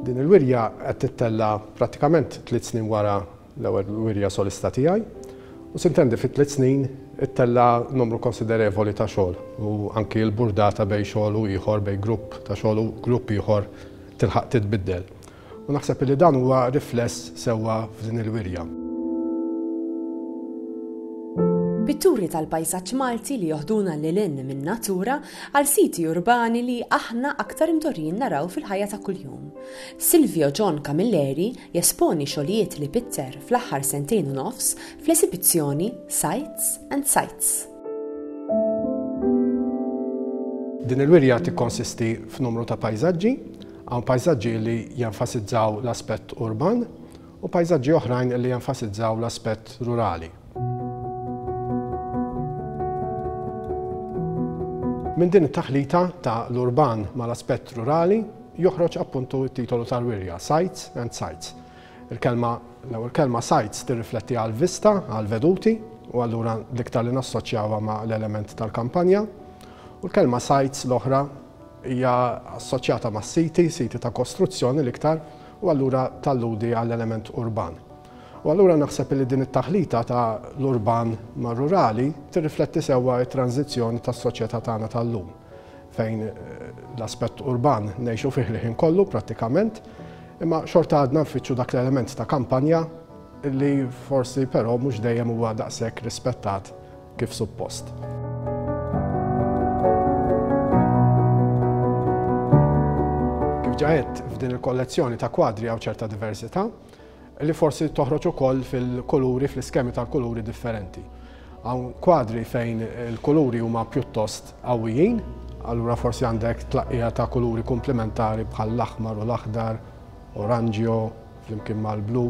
Din il-wirja qed tittella' prattikament tliet snin wara l-ewwel wirja solista tiegħi u sintendi fi tliet snin ittella' numru konsiderevoli ta' xogħol u anki l-burdata bejn xogħol u ieħor, bejn grupp ta' xogħol u grupp ieħor tilħaq titbiddel. U naħseb li dan huwa rifless sewwa f'din il-wirja. Pitturi tal-pajsaġġ Malti li joħduna lil hinn min-natura għal siti urbani li aħna aktar imdorrijin naraw fil-ħajja ta' kuljum. Silvio John Camilleri jesponi xogħlijiet li pitter fl-aħħar sentejn u nofs fl-esibizzjoni Sights and Sights. Din il-wirja tikkonsisti f'numru ta' pajsaġġi Hawn pajsaġġi li jenfasizzaw l-aspett urban u pajsaġġi oħrajn li jenfasizzaw l-aspett rurali. Minn din it-taħlita ta' l-urban ma' l-aspett rurali joħroġ appuntu t-titolu tal-wirja, Sights and Sites. Il-kelma, l-ewwel kelma sights tirrifletti għall-vista, għall-veduti, u allura l-iktar li nassoċjawha ma' l-element tal-kampanja, u l-kelma sites l-oħra Hija assoċjata ma' siti, siti ta' kostruzzjoni l-iktar, u allura talludi għall-element urban. U allura naħseb illi din it-taħlita ta' l-urban mar-rurali tirrifletti sewwa t-tranżizzjoni tas-soċjetà tagħna tal-lum, fejn l-aspett urban ngħixu fih l-ħin kollu prattikament, imma xorta għadna nfittxu dak l-element ta' kampanja illi forsi però mhux dejjem huwa daqshekk rispettat kif suppost. Kif ġa għedt, f'din il-kollezzjoni ta' kwadri hawn ċerta diversità li forsi toħroġ ukoll fil-kuluri, fl-iskemi tal-kuluri differenti. Hawn kwadri fejn il-kuluri huma pjuttost qawwijin, allura forsi għandek tlaqqija ta' kuluri komplementari bħal l-aħmar u l-aħdar, oranġio, flimkien mal-blu.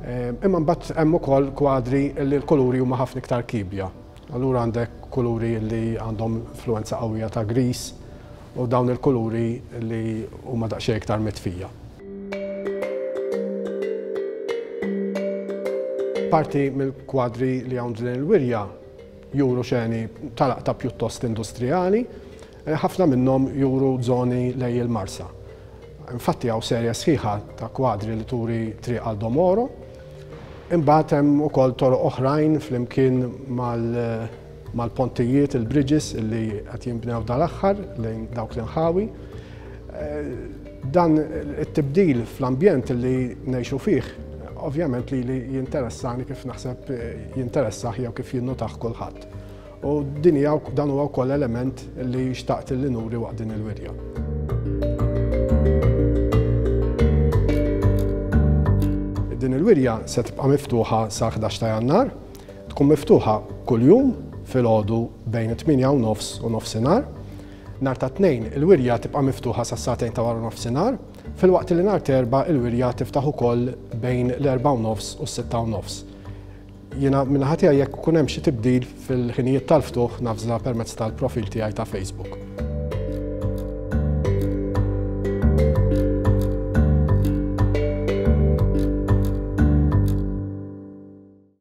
Ehm, imma mbagħad hemm ukoll kwadri li l-kuluri huma ħafna iktar kibja. Allura għandek kuluri li għandhom influenza qawwija ta' gris u dawn il-kuluri li huma daqsxejn iktar mitfija. Parti mill-kwadri li hawn din il-wirja juru xeni tal-aqta pjuttost industrijali, Ħafna minnhom juru żoni lej il-Marsa. Infatti hawn serje sħiħa ta' kwadri li turi triq għal Domoro. Imbagħad hemm ukoll toroq oħrajn flimkien mal-pontijiet, il-bridges li qed jinbnew dal-aħħar lejn dawk l-inħawi. Dan it-tibdil fl-ambjent li ngħixu fih ovvjament lili jinteressani kif naħseb jinteressah jew kif jinnotah kulħadd. U din hija dan huwa wkoll element li xtaqt li nuri waqt din il-wirja. Din il-wirja se tibqa' miftuħa sa 11 ta' Jannar, tkun miftuħa kuljum filgħodu bejn it-8 u nofs u nofsinhar. Nhar ta' tnejn il-wirja tibqa' miftuħa sa satejn ta' wara nofsinhar, filwaqt li nhar terba' il-wirja tiftaħ ukoll bejn l-4 u nofs u s-6 u nofs. Jiena min-naħa tiegħi jekk ikun hemm xi tibdil fil-ħinijiet tal-ftuħ navża permezz tal-profil tiegħi ta' Facebook.